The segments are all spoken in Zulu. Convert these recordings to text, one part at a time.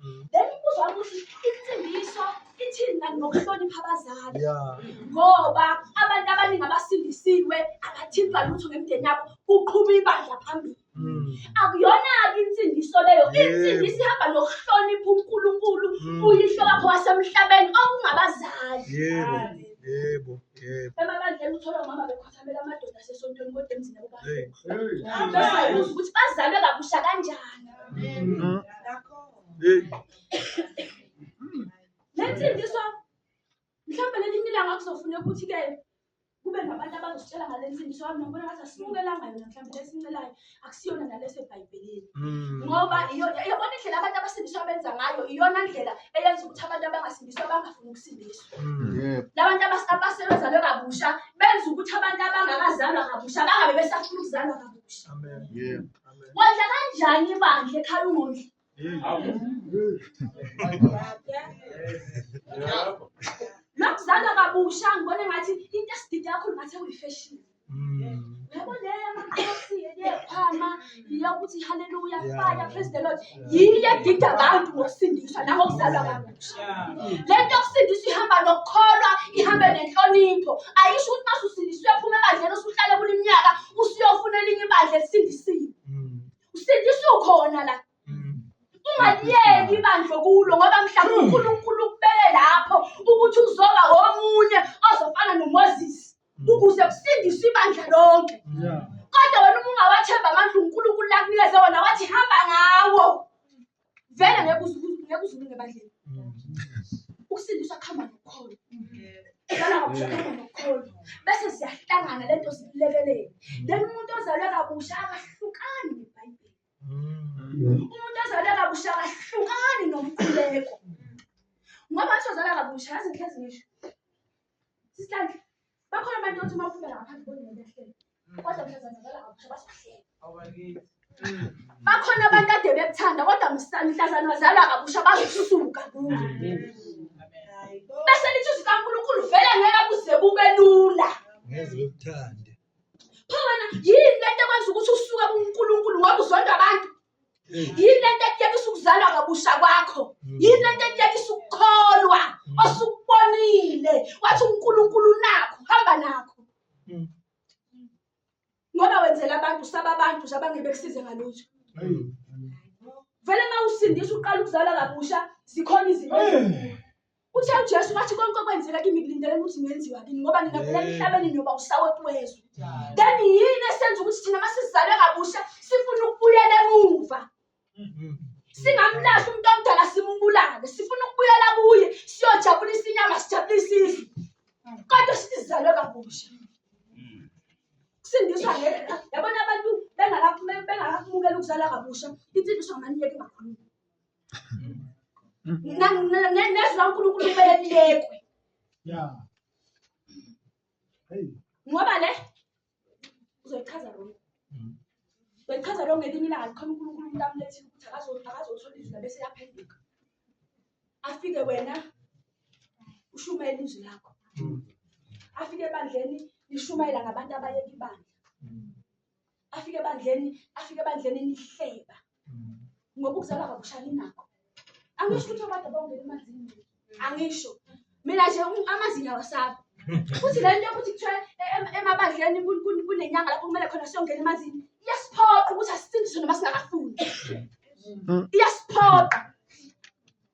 Mm. then uzwa ukuthi insindiso ithini kanti ngokuhlonipha abazali Yeah. ngoba abantu abaningi abasindisiwe abathintwa lutho ngemndeni yabo kuqhuba ibandla phambili Mm. akuyona-ke insindiso leyo Yebo. insindiso ihamba nokuhlonipha unkulunkulu Mm. uyihlo wakho wasemhlabeni okungabazali Yebo. Yebo. Yebo. emabandleni uthola umama bekho Thamela amadoda asesontweni kodwa emzini yabo bahambe. Hamba sabuza ukuthi bazalwe kabusha kanjani. Mm. Le mfundiswa mhlawumbe lelinye ilanga kuzofuneka ukuthi-ke kube nabantu abazositshela ngale mfundiswa yami nokubona ngathi asimukelanga yona mhlawumbe lesincelayo akusiyona nale esebhayibhelini Mm. ngoba iyo- iyona indlela abantu abasindiswa abenza ngayo iyona ndlela eyenza ukuthi abantu abangasindiswa bangafuni ukusindiswa Mm. Yebo. labantu abas- abasebezalwe kabusha benza ukuthi abantu abangakazalwa kabusha bangabe besafuna ukuzalwa kabusha Amen. Yebo. Amen. wondla kanjani ibandla ekhaya ungondli Nakuzalwa kabusha ngibona ngathi into esidida yakho ngathi uyifeshini. Mm. Yabo le yamakhosi yekhama yokuthi haleluya fire praise the Lord. Yiye edida abantu ngokusindiswa nangokuzalwa kabusha. Le nto yokusindiswa ihamba nokukholwa, ihamba nenhlonipho. Ayisho ukuthi mase usindiswe phuma ebandleni usuhlale kuleminyaka usuyofuna elinye ibandla elisindisiwe. Usindiswa ukhona la. Mm. Ungaliyeki ibandla kulo ngoba mhlawumbe Mm. uNkulunkulu ukubeke lapho ukuthi uzoba omunye ozofana noMoses Mm. ukuze kusindiswe ibandla lonke. Yeah. Kodwa wena uma ungawathemba amandla uNkulunkulu lakunikeze wona wathi hamba ngawo. vele ngeke uzu- ngeke uzulunge ebandleni ukusindiswa kuhamba nokukholo Ngicela ngokuhlangana nokukholo bese siyahlangana lento silekelele then umuntu ozalwe kabusha akahlukani nebhayibheli umuntu ozalwe kabusha akahlukani nomkhuleko ngoba athi ozalwa kabusha yazi ngihlezi ngisho Sisihlanhla, bakhona abantu othi uma ufika lapha ngibone ngento ehlele. Kodwa mhlazana ngala ngapha bazokuhlela. Awakithi. Bakhona abantu ade bekuthanda kodwa msa- mhlazana wazala kabusha bazosuka kuwe. Bese lithi izwi kaNkulunkulu vele ngeke kuze kube lula. ngeze bekuthande Phela yini lento ekwenza ukuthi usuke kuNkulunkulu ngoba uzonda abantu? yini lento ekuyekisa ukuzalwa kabusha kwakho mm. yini lento ekuyekisa ukukholwa mm. osukubonile wathi unkulunkulu nakho hamba nakho mm. ngoba wenzela abantu saba abantu nje abangeke bekusize ngalutho vele uma usindisa uqala ukuzala kabusha zikhona izinto Uthe uJesu wathi konke okwenzeka kimi kulindeleke ukuthi kungenziwa kini ngoba ngingavela Yeah. emhlabeni ngiyoba usawoti wezwe. Njalo. Then yini esenza ukuthi thina uma sizalwe kabusha sifuna ukubuyela emuva? Mm. Singamlahli umuntu omdala simbulale. Sifuna ukubuyela kuye siyojabulisa inyama sijabulise izwe. Kodwa sithi sizalwe kabusha. Kusindiswa ngeke. Yabona abantu bengakaphumeli bengakaphumukela ukuzalwa kabusha. Insindiswa ngamanyeke engakhulumi. nezwi lankulunkulu kumele lilekwe ngoba le uzoyichaza rongo mm. uzoyichaza rongo ngelinye ilanga likhona unkulunkulu umuntu amulethile ukuthi akazothola izwi labese yaphenduka afike wena ushumayela izwi lakho mm. afike ebandleni lishumayela ngabantu abayeka ibandla mm. afike ebandleni afike ebandleni nihleba mm. ngoba ukuzalwa kabusha ninakho angisho ukuthi abantu abawungena emanzini angisho mina nje amazinyo awasabi futhi le nto yokuthi kuthiwa e, e, emabandleni kunenyanga lapho kumele khona siyongena emanzini iyasiphoqa ukuthi asisindiswe noma singakafuni mm. iyasiphoqa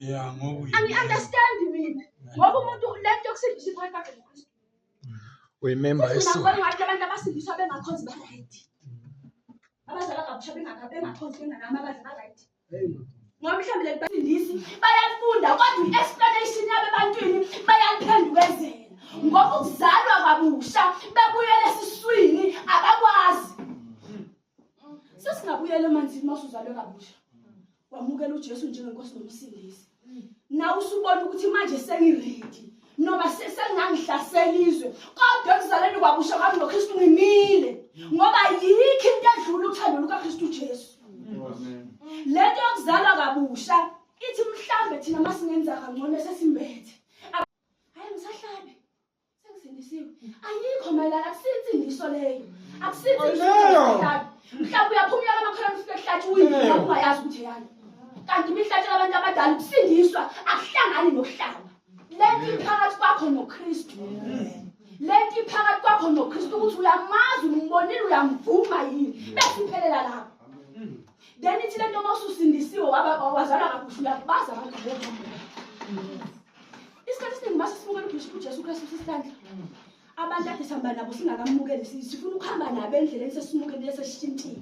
ya ngoku angi-understandi mina ngoba umuntu le nto yokusindisa iphakathi kwakhe nokristu uyimemba yeso abantu abasindiswa bengakhonzi ba-right abazalwa kabusha bengakhonzi benganami abadla ba-right ngoba mhlawumbe le bafundisi bayafunda kodwa i-explanation yabo ebantwini bayaliphendukezela ngoba ukuzalwa kabusha bebuyela esiswini abakwazi sesingabuyela emanzini uma usuzalwe kabusha wamukela uJesu njengenkosi nomsindisi mm. nawe usubona ukuthi manje sengiredi noma sengangihlasela izwe kodwa ekuzaleni kwabusha kwami noKristu ngimile ngoba yikho into edlula uthando lukaKristu Jesu lento yokuzalwa kabusha ithi mhlambe thina masingenza kangcono sesimbethe hayi ngisahlabe Sengisindisiwe. Ayikho mayelana akusinsindiso leyo. Akusinsindiso. Mhlawumbe uyaphumula amakhono ufike kuhlathi uyini ungayazi ukuthi yani. Kanti imihlatshela abantu abadala ukusindiswa akuhlangani nokuhlaba. Lento iphakathi kwakho noKristu. Lento iphakathi kwakho noKristu ukuthi uyamazi umbonile uyamvuma yini. Bese iphelela lapho. then ithi le nto uma ususindisiwe wazalwa kabusha uyakubaza abantu isikhathi esiningi uma sesimukela ujesu kristu sisihlandla abantu ade sihamba nabo singakamukeli sifuna ukuhamba nabo endleleni sesimukelile sesishintile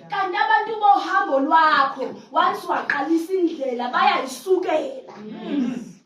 kanti abantu bohambo lwakho once waqalisa indlela bayayisukela